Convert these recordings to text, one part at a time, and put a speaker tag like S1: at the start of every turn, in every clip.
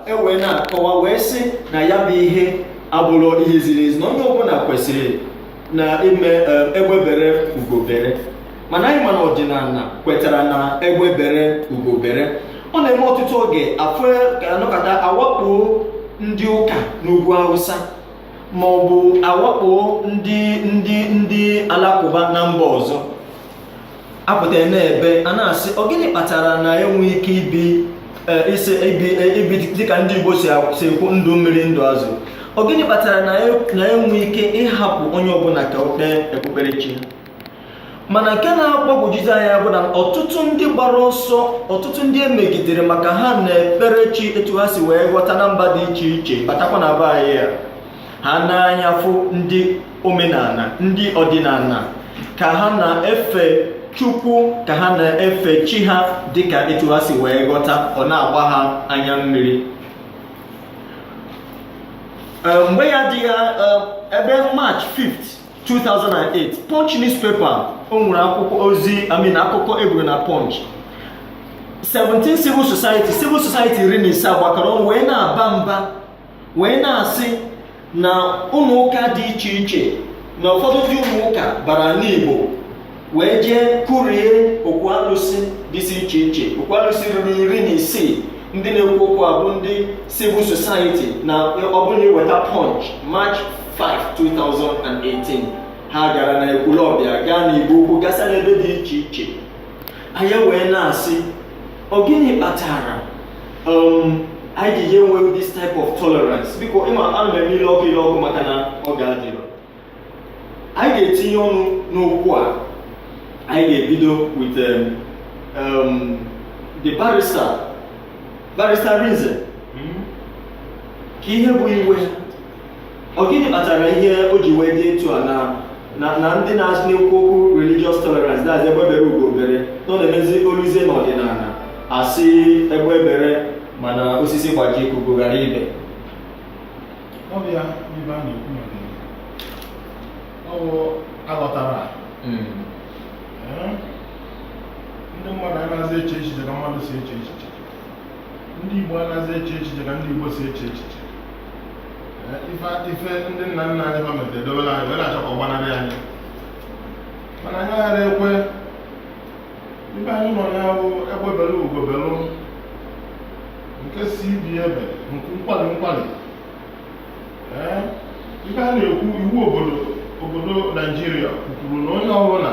S1: e wee na-akọwa wee sị na ya bụ ihe abụrọ ihe ziri ezi na onye ọbụla kwesịrị na ime eh, egbe bere ugo bere mana anyị ma na ọdịnala kwetara na egbe bere ugo bere ọ na-eme ọtụtụ oge afọ a nọkata a wakpo ndị ụka n'ugwu awụsa ma ọ bụ a wakpo ndị ndị ndị alakụba na mba ọzọ a pụta n'ebe a na-asị ọ gịnị kpatara na enweghị ike ibi e, isi ibi e, ibi dịka ndị Igbo si a- si ekwu ndụ mmiri ndụ azụ ọ gịnị kpatara na e- na enweghị ike ịhapụ onye ọbụla ka o kpee okpukperechi ya mana nke na-agbagwojuzi anya bụ na ọtụtụ ndị gbara ọsọ ọtụtụ ndị e megidere maka ha na-ekpere chi etu ha si wee ghọta na mba dị iche iche batakwa na be anyị a ha n'anya fụ ndị omenala ndị ọdịnala ka ha na-efe chukwu ka ha na-efe chi ha dịka etu ha si wee ghọta ọ na-agba ha anya mmiri Eh, mgbe ya dị eh, ebe march 5th 2008 punch newspaper o nwere akwụkwọ ozi I mean akụkọ e buru na punch 17 civil society civil society iri na ise gbakọrọ ọnụ wee na-aba mba wee na-asị na ụmụ ụka dị iche iche na ụfọdụ ndị ụmụ ụka bara n'Igbo wee jee kụrie okwu alụsị dịsị iche iche okwu alụsị ruru iri na isii ndị na-ekwu okwu a bụ ndị civil society na ọ bụrụ na i weta punch march 5 2018 ha gara n'Ekwulọbịa gaa n'Igbo Ukwu gasa n'ebe dị iche iche anyị wee na-asị ọ gịnị kpatara um, anyị ji enwe this type of tolerance because ị ma ana m eme ile ọkụ ile ọkụ maka na oge adịrọ anyị ga-etinye ọnụ n'okwu a anyị ga-ebido with um, um, the barrister barrister Arinze kee ihe bụ iwe Ọ gịnị kpatara ihe o ji wee dị etu a na na na ndị na-asị na-ekwu okwu religious tolerance that's egbe bere ugo bere na ọ na-emezi o luzie n'ọdịnala a sị egbe bere mana osisi gbajie ka ugo ghara
S2: ibe ọ bụ ya ibe a na-ekwu maka ya. ọ bụ a ghọtara Mm. ee, ndị mmadụ anaghịzi eche echiche ka mmadụ si eche echiche ndị Igbo anaghịzi eche echiche ka ndị Igbo si eche echiche ife ndị nna nna anyị ha metere dobere anyị wee na-achọ ka ọ gbanarị anyị mana anyị agarọ ekwe ibe anyị nọ ya bụ egbe bere ugo belụ nke sị ibe ya ebe nku nkwali nkwali ee ibe a na-ekwu iwu obodo obodo naijiria kwuru na onye ọbụla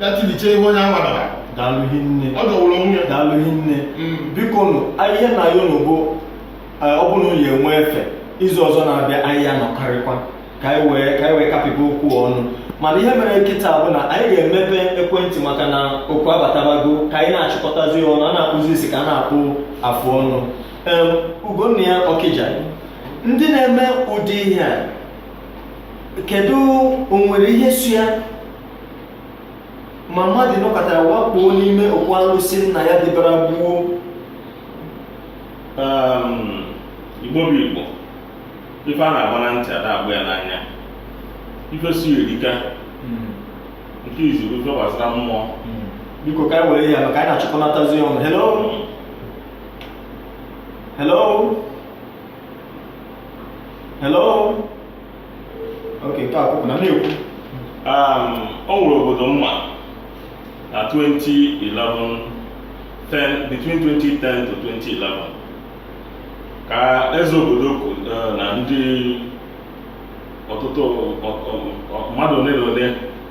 S2: gatiliche ihe onye anwa dara daalụ
S1: hinne ọ dọwụrụ onwe ya
S2: daalụ hinne
S1: Mm. biko nụ a- ihe m na-ayọ unu bụ eh, ọ bụrụ na unu enwe efe izu ọzọ na-abịa anyị ya-anọkọrịkwa ka anyị wee ka anyị wee kapịba okwu ọnụ mana ihe mere kịta bụ na anyị ga-emepe ekwentị maka na oku abatabago ka anyị na-achịkọtazi ya ọnụ a na-akpụzi isi ka a na-akpụ afụ ọnụ Em, Ugonnaya Ọkịja ndị na-eme ụdị ihe a kedu o nwere ihe so ya ma mmadụ nọkata wakpoo n'ime okwu alụsị nna ya dịbara gboo um,
S3: igbo bụ igbo ife a na-agba na ntị a da-agba ya n'anya ife si erika hmm. nke izu bụ ife gbasara mmụọ hmm. biko ka
S1: anyị were ya maka anyị na-achịkọnatazi ọnụ hello hmm. hello hello Okay, taa akwụkwọ na na-ekwu
S3: Um, o nwere obodo m ma na 2011 10 between 2010 to 2011 ka eze obodo kwu- eh, na ndị ọtụtụ ọ- ọ- ọ- mmadụ ole na ole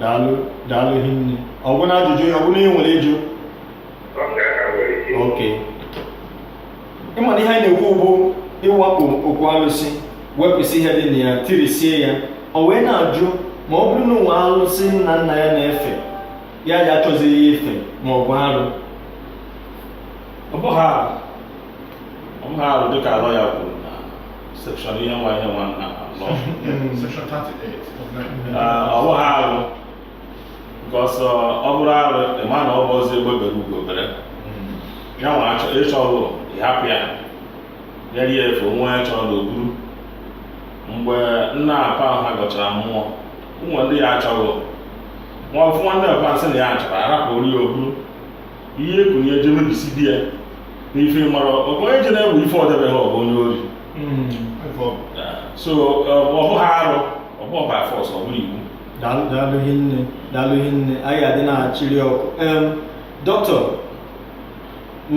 S1: daalụ daalụ hinne ọ bụrụ na ajụjụ ya ọ bụrụ na ị nwere ịjụ ok ịma na ihe anyị na-ekwu bụ ịwakpo okwu alụsị wepụsị ihe dị na ya tirisie ya o wee na-ajụ ma ọ bụrụ na o nwee alụsị nna nna ya na-efe ya ya achọzighị ya ife ma ọ bụ arụ
S3: ọ bụghị arụ ọ bụghị arụ dịka lawyer kwuru na section ihe nwa ihe nwa na law Section 38
S2: of Nigerian Ee, ọ bụghị
S3: arụ because ọ bụrụ arụ ịma na ọ bụ ọzọ egbe bere ugo bere ya nwa achọ ịchọ ọrụ ịhapụ ya ya rie efe onwe ya chọrọ na o buru mgbe nna apa ahụ ha gọchara mmụọ ụmụ ndị ya achọghị nwa ọfụ nwanne ọpa sị na ya achọrọ arapụrụ ya o buru ihe ekunye je mebisi di ya n'ife mara ọkụ onye je na-ewe ife ọ debeghị ọ bụ onye ori so ọ bụghị arụ ọ bụ by force ọ bụrụ iwu daalụ
S1: hinne daalụ hinne anyị adị na-achịrị oku dọkịta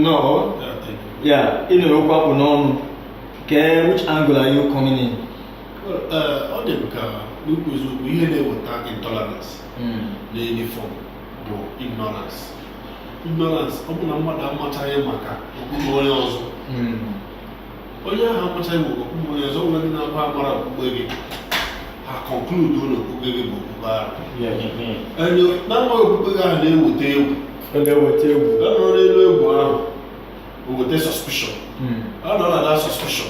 S1: nọ ya ị na-anụ okwu a kpụ n'ọnụ kee which angle are you coming in
S4: ọ dị ka n'ikwu eziokwu ihe na-eweta intolerance in any form bụ ignorance ignorance ọ bụ na mmadụ amachaghị maka okpukpe onye ọzọ hmm. onye ahụ amachaghị maka okpukpe onye ọzọ nwere ndị na-abụ amara okpukpe gị ha conclude na okpukpe gị bụ okpukpe ahụ na amaghị okpukpe gị ahụ na-eweta egwu na-eweta egwu a nọrọ n'elu egwu ahụ o weta suspicion hmm. a nọ na that suspicion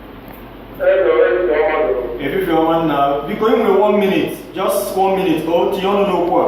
S1: efifie ọma nna biko ị nwere one minute just one minute ka o tinye ọnụ n'okwu a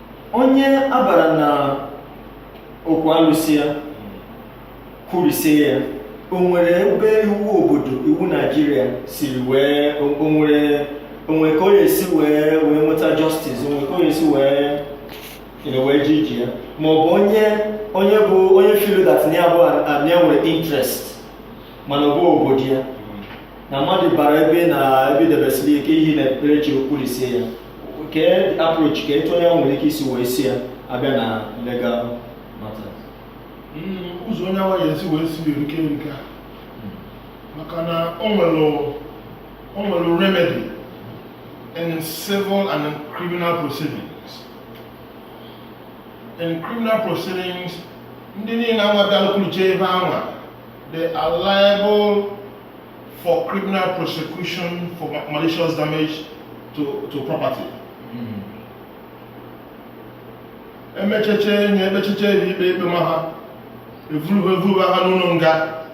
S1: onye a bara na okwu alụsị ya kụrisie ya o nwere ebe iwu obodo iwu naijiria siri wee o nwere o nwe ka ọ ya-esi wee wee nweta justice o nwe ka ọ ya-esi wee you know, wee ji iji ya ma ọ bụ onye onye bụ onye feel that na ya bụ na ya nwere interest mana ọ bụ obodo ya na mmadụ bara ebe na ebe e debesiri ike ihe na-ekpere chi kụrisie ya Kee approach ka etu onye nwere ike isi wee si ya abịa na legal matters.
S2: Hmm, ụzọ onye anwa ya-esi wee si erike erika hmm. maka na o nwere remedy in civil and in criminal proceedings. In criminal proceedings, ndị niile anwa bịalụ kụliche ebe anwa they are liable for criminal prosecution for malicious damage to, to property. Hmm. emecheche enye emecheche eri ikpe ikpe ma ha evuruba evuruba ha n'ụlọ nga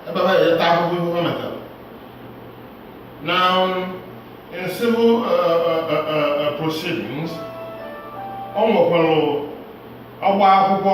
S2: ebe ha ga-eta ahụhụ ihe ha metara now um, in civil uh, uh, uh, uh, uh proceedings o nwekwara ịgba akwụkwọ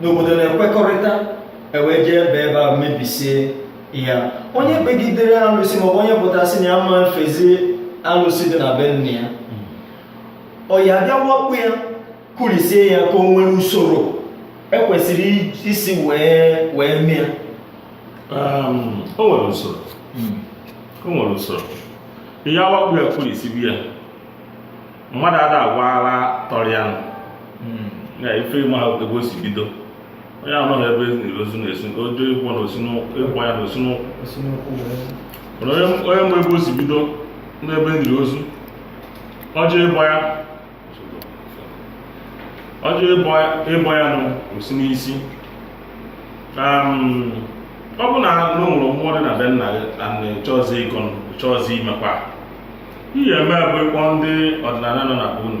S1: n'obodo na-ekwekọrịta e wee jee ebe ebe a mebisie ya onye kpegidere alụsị maọbụ onye pụta sị na ya ama efezi alụsị dị na be nna ya ọ ya bịa wakpo ya kụrisie ya ka o nwere usoro e kwesịrị isi wee wee mee ya Um,
S3: o nwere usoro o nwere usoro ị ya-awakpo ya kụrisibe ya mmadụ ada agwọta ọrịa nụ hmm. na ife ịma ha ebe o si bido onye anọghị ebe ozu na-esi ọ chọọ ịbọ na ịbọ ya nụ o si n'ụkwụ onye ma ebe o si bido n'ebe e liri ozu ọ chọọ ịbọ ya ọ chọọ ịbọ ya nụ o si n'isi um, ọ bụ na o nwere mmụọ dị na be nna gị na chọọzi ịgọ chọọzi imekwa ihe eme bụ ịkpọ ndị ọdịnala nọ na be unu